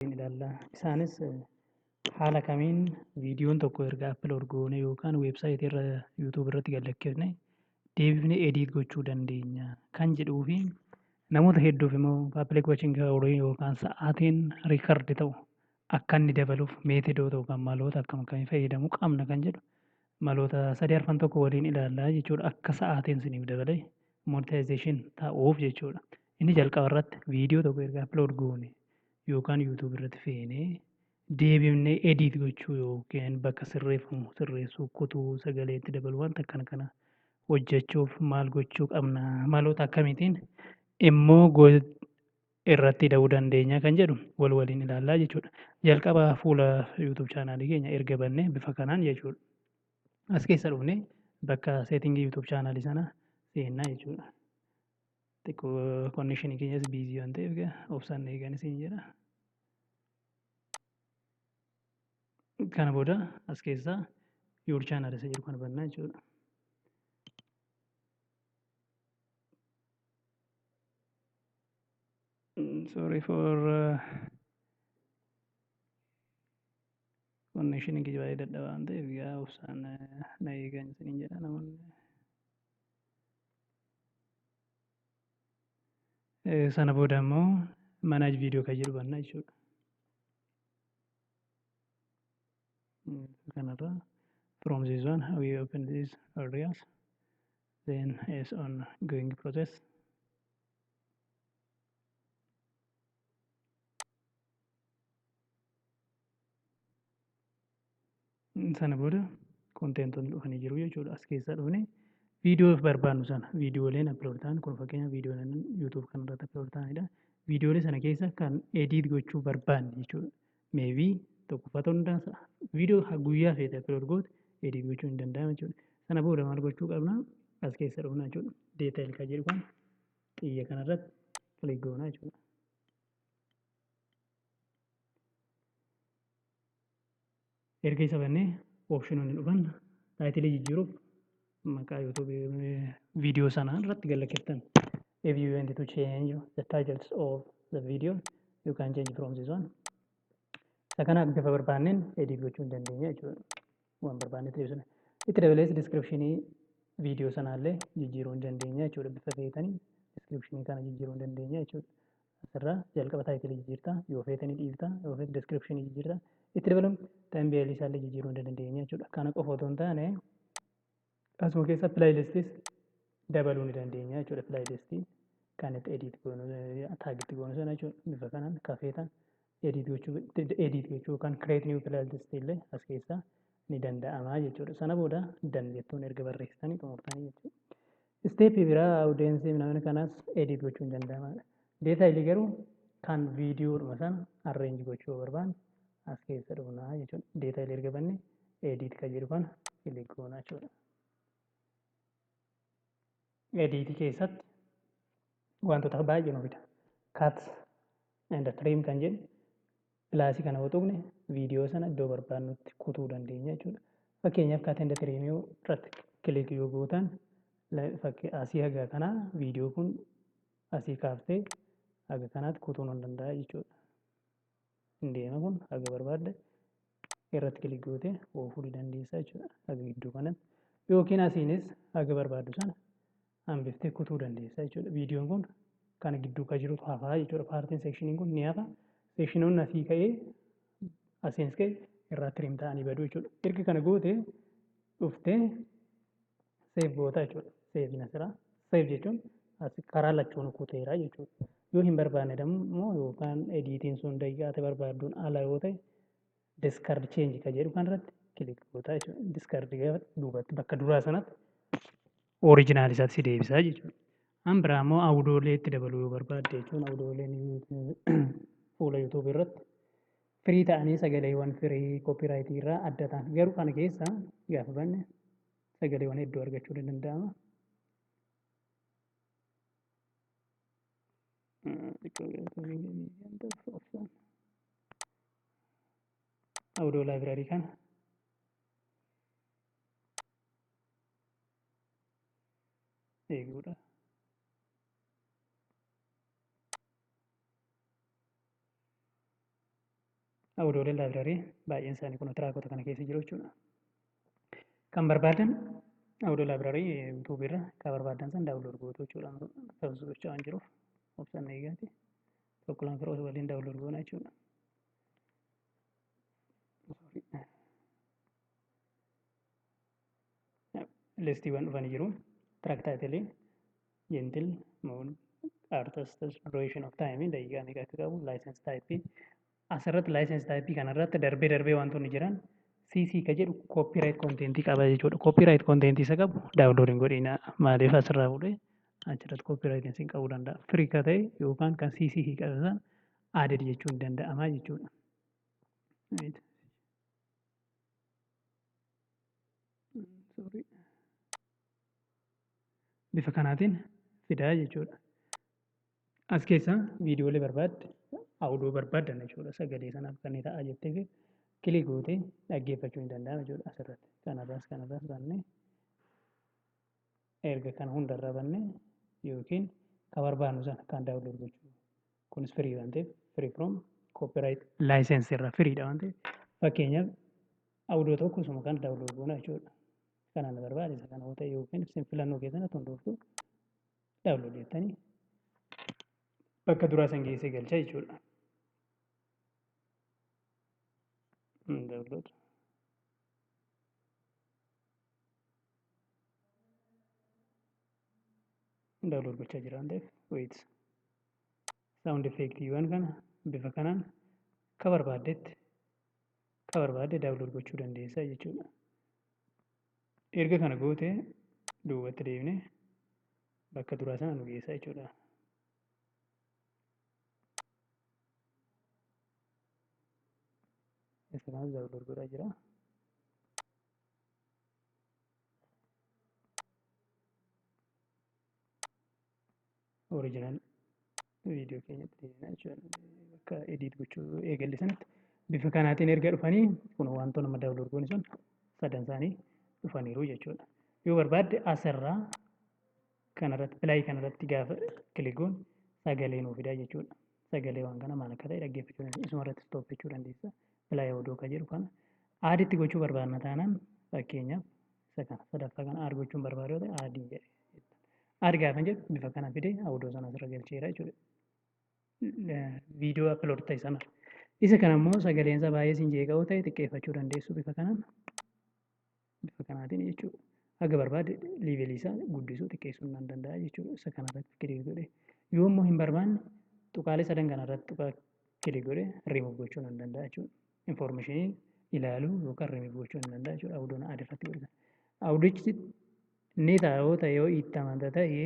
hin ilaalla. Isaanis haala kamiin viidiyoon tokko erga upload goone yookaan weebsaayitii irra YouTube irratti gad lakkifne deebifnee edit gochuu dandeenya kan jedhuu fi namoota hedduuf immoo public watching hour yookaan sa'aatiin record ta'u akka inni dabaluuf meetodoota yookaan maloota akkam akkamii fayyadamuu qabna kan jedhu maloota sadii arfan tokko waliin ilaallaa jechuudha akka sa'aatiin isiniif dabalee monetization ta'uuf jechuudha. Inni jalqaba irratti viidiyoo tokko erga upload goone yookaan YouTube irratti feenee deebifnee edit gochuu yookiin bakka sirreeffamu sirreessuu kutuu sagalee itti dabaluu wanta akkana kana hojjechuuf maal gochuu qabna maloota akkamiitiin immoo go- irratti ida'uu dandeenya kan jedhu wal waliin ilaallaa jechuudha. Jalqaba fuula YouTube chaanaalii keenya erga bannee bifa kanaan jechuudha. As keessa dhufnee bakka seetingii YouTube chaanaalii sana seennaa jechuudha. Xiqqoo connection keenyas biizii waan ta'eef obsaan eegan isin jedha. Kana booda as keessaa your channel isa jedhu kana bannaa jechuudha. Sorry for uh, connection kiyya baay'ee dadhabaa waan ta'eef yaa obsaan na eegan isiniin jedha namoonni. Sana booda immoo manaaj viidiyoo kan jedhu banna jechuudha. Kanarra from this one we open this areas then is on going process. Sana booda konteentoonni dhufanii jiru jechuudha. As keessaa dhufnee viidiyoo barbaannu sana viidiyooleen upload ta'an kun fakkeenya viidiyooleen YouTube kanarratti upload ta'anidha. Viidiyoolee sana keessa kan edit gochuu barbaanne jechuudha. Maybe tokkoffaa ta'uu danda'a. Viidiyoo ha- guyyaa feete upload goote edit gochuun hin danda'amu jechuudha. Sana booda maal gochuu qabna? As keessa dhufna jechuudha. Detail kan jedhu kan xiyya kanarratti click goona jechuudha. Erga isa bannee optiononni dhufan taayitilii jijjiiruuf maqaa YouTube video sanaa irratti gallakiftan. If you want to change the titles of the video, you can change from this one. Isa kana bifa barbaanneen edit gochuu hin dandeenya jechuudha. Waan barbaanne ta'e sana. Itti dabalees descriptionii video sanaallee jijjiiruu hin dandeenya jechuudha. Bifa feetanii descriptionii kana jijjiiruu hin dandeenya jechuudha. asirraa jalqaba taayitilii jijjiirta yoo feete ni dhiifta yoo feete description jijjiirta itti dabaluun tambeelii isaallee jijjiiruu ni dandeenya jechuudha kana qofa otoo hin taane asuma keessa playlistis dabaluu ni dandeenya jechuudha playlistii kan itti edit goonu taagitti goonu sana jechuudha bifa kanaan kafeetan edit gochuu edit gochuu yookaan create new playlist illee as keessaa ni danda'ama jechuudha. Sana booda dan jettuun erga barreessitanii xumurtanii jechuudha. Isteeppii biraa awudeensiif namni kanas edit gochuun danda'amaadha. Deetaayilii garuu kan viidiyoodhuma sana arreenji gochuu barbaanne as keessa dhufna jechuudha. Deetaayilii erga banne edit kan jedhu kana kilik goona jechuudha. Ediitii keessatti wantoota baay'ee nu fida. Cut and trim kan jennu pilaasii kana yoo tuqne viidiyoo sana iddoo barbaadnutti kutuu dandeenya jechuudha. Fakkeenyaaf cut and trim irratti kilik yoo gootan fakkii asii haga kanaa viidiyoo kun asii kaaftee haga kanaatti kutuu nan danda'a jechuudha. hin deema kun haga barbaadde irratti kilik gootee oofuu ni dandeessa jechuudha haga gidduu kanatti yookiin asiinis haga barbaaddu sana hambiftee kutuu dandeessa jechuudha viidiyoon kun kana gidduu ka jirutu hafaa jechuudha paartiin seekshiniin kun ni hafa seekshinoonni asii ka'ee asiinis ka'e irraa tiriim ta'anii badu jechuudha erga kana gootee dhuftee Save gootaa jechuudha. Save na sira. Save jechuun as karaa lachuun kuteera jechuudha. Yoo hin barbaanne immoo yookaan ediitiin sun daqiiqaa ati barbaadduun ala yoo ta'e discard change ka jedhu kan irratti kilik gootaa jechuudha. Discard gaafa duubatti bakka duraa sanatti original isaatti si deebisaa jechuudha. An biraa immoo awudoolee itti dabaluu yoo barbaadde jechuun awudooleen fuula YouTube irratti firii ta'anii sagaleewwan firii koopiraayitii irraa adda ta'an garuu kana keessa gaafa banne sagaleewwan hedduu argachuun ni danda'ama. Audio library kana eeguudha. Awudoolee laabrarii baay'een isaanii kun tiraakota kana keessa jiru jechuudha. Kan barbaadan awudoo laabrarii yuutuubii irra kan barbaadan san daawunlood gootu jechuudha. Sabsu gochaa waan jiruuf obsan eegaati. Tokko lama firoota waliin daawunlood goona jechuudha. Sorry. listiiwwan dhufanii jiru. Track title, gentle, mood, artist, duration of time, daqiiqaa meeqa akka qabu, license type. Asirratti license type kanarratti darbee darbee wantoonni jiran CC ka jedhu copyright content qaba jechuudha. Copyright content isa qabu download hin godhina. Maaliif asirraa fuudhee achirratti copyright isin qabuu danda'a. Free ka ta'e yookaan kan CC hiiqate sana added jechuun danda'ama jechuudha. Right. bifa kanaatiin fidaa jechuudha. As keessaa viidiyoolee barbaadde, audio barbaadde jechuudha. Sagalee sanaaf kan ta'a jettee fi kilik gootee dhaggeeffachuu ni danda'ama jechuudha asirratti. Kanarraas kanarraas bannee erga kana hundarraa bannee yookiin kan barbaadnu sana kan daawunlood gochuu kunis firii waan ta'eef firii from copyright license irraa firiidha waan ta'eef fakkeenyaaf audio tokko osuma kana download goona jechuudha. Kanaan barbaachisa kana yoo ta'e yookiin isin filannoo keessan akka hundooftu download jettanii bakka duraa san geessee galcha jechuudha. Download. daawlood gochaa jira waan ta'eef wait saawundi effeektiiwwan kana bifa kanaan ka barbaaddetti ka barbaadde daawlood gochuu dandeessa jechuudha. Erga kana goote duubatti deebine bakka duraa sana nu geessa jechuudha. Isa kanas daawlood godhaa jira. original video keenyatti deebina jechuudha. Bakka edit gochuu eegalle sanatti bifa kanaatiin erga dhufanii kun wantoota nama daawlood goone sun sadan isaanii dhufaniiru jechuudha. Yoo barbaadde asirraa kanarratti pilaayii kanarratti gaafa kiligoon sagalee nuu fidaa jechuudha. Sagalee waan kana maal akka ta'e dhaggeeffachuu dandeessa. Isuma irratti stoop jechuu dandeessa. Pilaayii odoo akka jedhu kana aaditti gochuu barbaadna taanaan fakkeenyaaf isa kana sadaffaa kana aad gochuun barbaadu yoo ta'e aadii jedhe. Aad gaafa jedhu bifa kana fidee odoo sana asirra galcheera jechuudha. Viidiyoo upload ta'e sana. Isa kana immoo sagaleensa baay'ee siin jeeqa'uu ta'e xiqqeeffachuu dandeessu bifa kanaan. Bifa kanaatiin jechuudha. Haga barbaade liivelii isaa guddisuu xiqqeessuu nan danda'a jechuudha. Isa kana irratti kilik godhe. Yoo immoo hin barbaanne tuqaalee sadan kana irratti tuqaa kilik godhe remove gochuu nan danda'a jechuudha. Informationii ilaaluu yookaan remove gochuu nan danda'a jechuudha. Awudoon aad irratti godhe. Awudichi ni ta'a yoo ta'e yoo itti amanta ta'e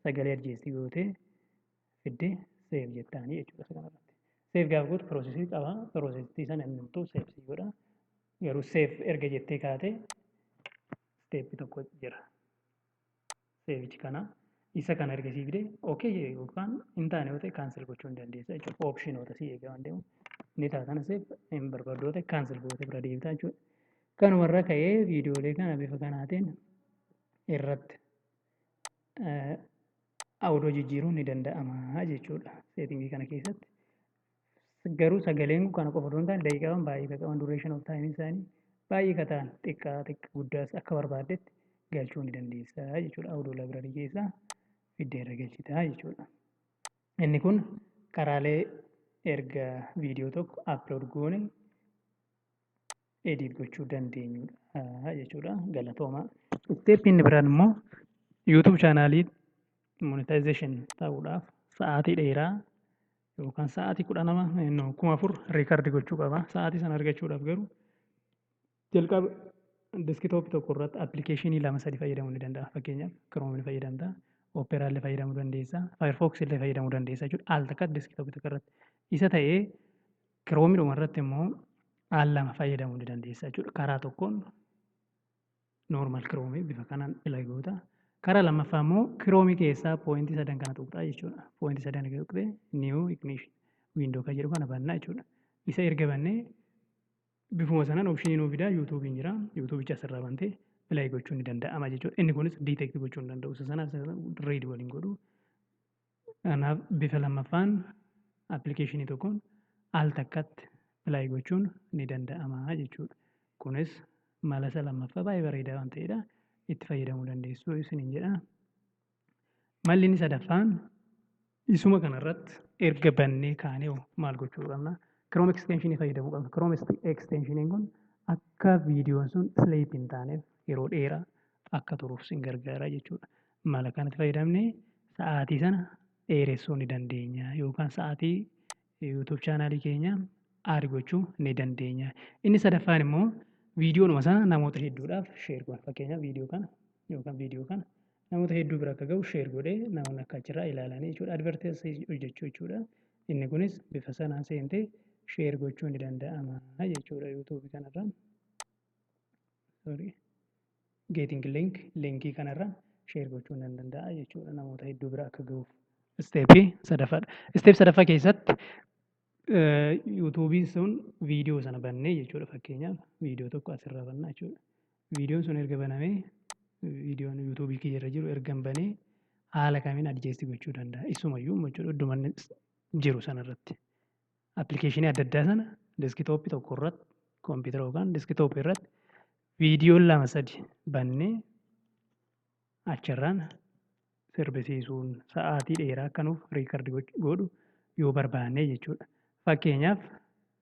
sagalee adjeessi gootee fidde seef jettaanii jechuudha isa kanarratti. Seef gaafa gootu piroosesii qaba. Piroosesii sana inni hunduu seef sii godha. Garuu seef erga jettee kaate steeppi tokko jira. Seevichi kana isa kana erga sii fide okay jedhe yookaan hin taane yoo ta'e kaansel gochuu hin dandeessa jechuudha. Oopshinoota sii eegaa waan deemu ni taatana seef hin barbaaddu yoo ta'e kaansel gootee bira deebitaa jechuudha. Kanuma irra ka'ee viidiyoolee kana bifa kanaatiin irratti awudoo jijjiiruun ni danda'ama jechuudha. Seetingii kana keessatti Garuu sagaleen kun kana qofa osoo hin taane daqiiqaawwan baay'ee ka qaban duration of time isaanii baay'ee ka ta'an xiqqaa xiqqaa guddaas akka barbaaddetti galchuu ni dandeessa jechuudha. Audio library keessaa fiddee irra galchita jechuudha. Inni kun karaalee erga viidiyoo tokko upload goone edit gochuu dandeenyudha jechuudha. Galatoomaa. Isteeppi inni biraan immoo YouTube chaanaalii monetization ta'uudhaaf sa'aatii dheeraa yookaan sa'aatii kudha nama no, kuma afur riikardi gochuu qaba. Sa'aatii sana argachuudhaaf garuu jalqaba deskitoopi tokko irratti appilikeeshinii lama sadi fayyadamuu ni danda'a. Fakkeenyaaf Chrome ni fayyadamta, Opera illee fayyadamuu dandeessa, Firefox illee fayyadamuu dandeessa jechuudha. Al takka deskitoopi tokko irratti. Isa ta'ee Kiroomidhuma irratti immoo al lama fayyadamuu ni dandeessa jechuudha. Karaa tokkoon normal kiroomii bifa kanaan ila goota. Karaa lammaffaa immoo kiroomii keessaa pooyintii sadan kana tuqxaa jechuudha. Pooyintii sadan kana tuqxee new ignition window kan jedhu kana bannaa jechuudha. Isa erga bannee bifuma sanaan opshinii nuu fidaa yuutuubiin jira. Yuutuubicha asirraa bantee play gochuun ni danda'ama jechuudha. Inni kunis detect gochuu hin danda'u. Isa sanaaf read waliin godhu. Kanaaf bifa lammaffaan appilikeeshinii tokkoon al takkatti appilaayi gochuun ni danda'ama jechuudha. Kunis mala isa lammaffaa baay'ee bareedaa waan ta'edha. Itti fayyadamuu dandeessu isiniin jedha. Malli inni sadaffaan isuma kanarratti erga bannee kaanee hoo maal gochuu qabna? Chrome extension fayyadamuu qabna. Chrome extension kun akka viidiyoon sun sleep hin taaneef yeroo dheeraa akka turuuf sin gargaara jechuudha. mala kanatti fayyadamne sa'aatii sana dheeressuu ni dandeenya yookaan sa'aatii YouTube chaanaalii keenya aad gochuu ni dandeenya. Inni sadaffaan immoo viidiyoon sana namoota hedduudhaaf sheer godha. Fakkeenyaaf viidiyoo kana yookaan viidiyoo kana namoota hedduu bira akka ga'u sheer godhee namoonni akka achirraa ilaalanii jechuudha. Adverteesii hojjechuu jechuudha. Inni kunis bifa sanaan seentee sheer gochuu ni danda'ama jechuudha YouTube kanarra. Sorry. Getting link linkii kanarra share gochuun nan danda'a jechuudha namoota hedduu bira akka gahuuf. Isteepii sadaffaadha. Isteep sadaffaa keessatti yuutuubiin sun viidiyoo sana bannee jechuudha fakkeenyaaf viidiyoo tokko asirraa bannaa jechuudha. Viidiyoon sun erga banamee viidiyoon yuutuubii kiyya irra jiru ergan banee haala kamiin adjeessi gochuu danda'a. Isumayyuu jechuudha idduman jiru sanarratti. Appilikeeshinii adda addaa sana deskitooppii tokko irratti koompitara yookaan deskitooppii irratti Viidiyoo lama sadi bannee achirraan sirbisiisuun sa'aatii dheeraa akka nuuf riikardi godhu yoo barbaanne jechuudha. Fakkeenyaaf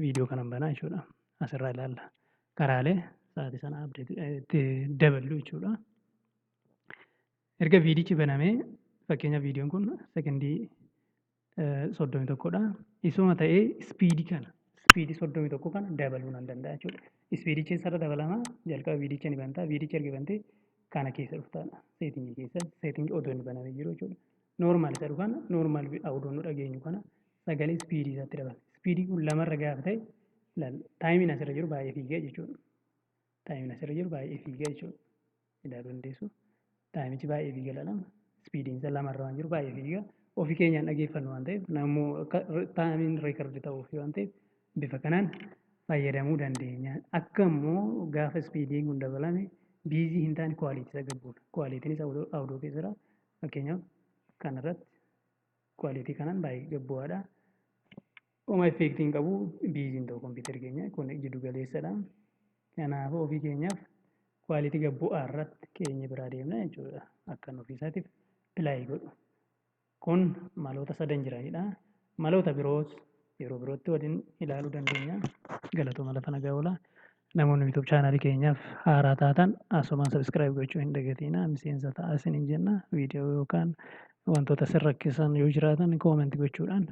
viidiyoo kanan banaa jechuudha. Asirraa ilaalla. Karaalee sa'aatii sana abdeeti itti daballu jechuudha. Erga viidichi banamee fakkeenyaaf viidiyoon kun sekondii soddomii tokkodha. Isuma ta'ee ispiidii kana ispiidii soddomii tokko kana dabaluu nan danda'a jechuudha. Ispiidichi eessarra dabalama jalqaba viidicha ni banta viidicha erga bantee kana keessa dhuftaadha. Seetingii keessa seetingii odoo inni banamee jiru jechuudha. Noormaal isa dhufana noormaal odoo nu dhageenyu kana sagalee ispiidii isaatti dabala. Ispiidii kun lamarra gaafa ta'e taayimiin asirra jiru baay'ee fiigaa jechuudha. Taayimiin asirra jiru baay'ee fiigaa jechuudha. ilaaluu dandeessu. Taayimichi baay'ee fiiga lalama. Ispiidiin isa lama irra waan jiru baay'ee fiiga. Ofii keenyaan dhageeffannu waan ta'eef nammoo akka taayimiin reekardi ta'uuf waan ta'eef bifa kanaan fayyadamuu dandeenya. Akka immoo gaafa ispiidiin kun dabalame biizii hin taane kwaaliitii isa gabbuudha. Kwaaliitiin isa awudoo keessa jira. Fakkeenyaaf kanarratti kwaaliitii kanaan baay'ee gabbu'aadha. Oma effeektii hin qabu biiziin ta'u kompiitarri keenya kun jiddu galeessadha. Kanaafuu ofii keenyaaf kwaalitii gad bu'aa irratti keenya biraa deemna jechuudha. Akkan ofii isaatiif pilaayii godhu. Kun maloota sadan jiranidha. Maloota biroos yeroo birootti waliin ilaaluu dandeenya. Galatooma lafa nagaa oola. Namoonni YouTube chaanaalii keenyaaf haaraa taatan asumaan sabiskiraayib gochuu hin dagatiina. Miseensa ta'aa isiniin jenna. Viidiyoo yookaan wantoota isin rakkisan yoo jiraatan koomenti gochuudhaan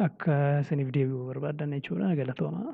akka isiniif deebi'u barbaaddan jechuudha. Galatoomaa.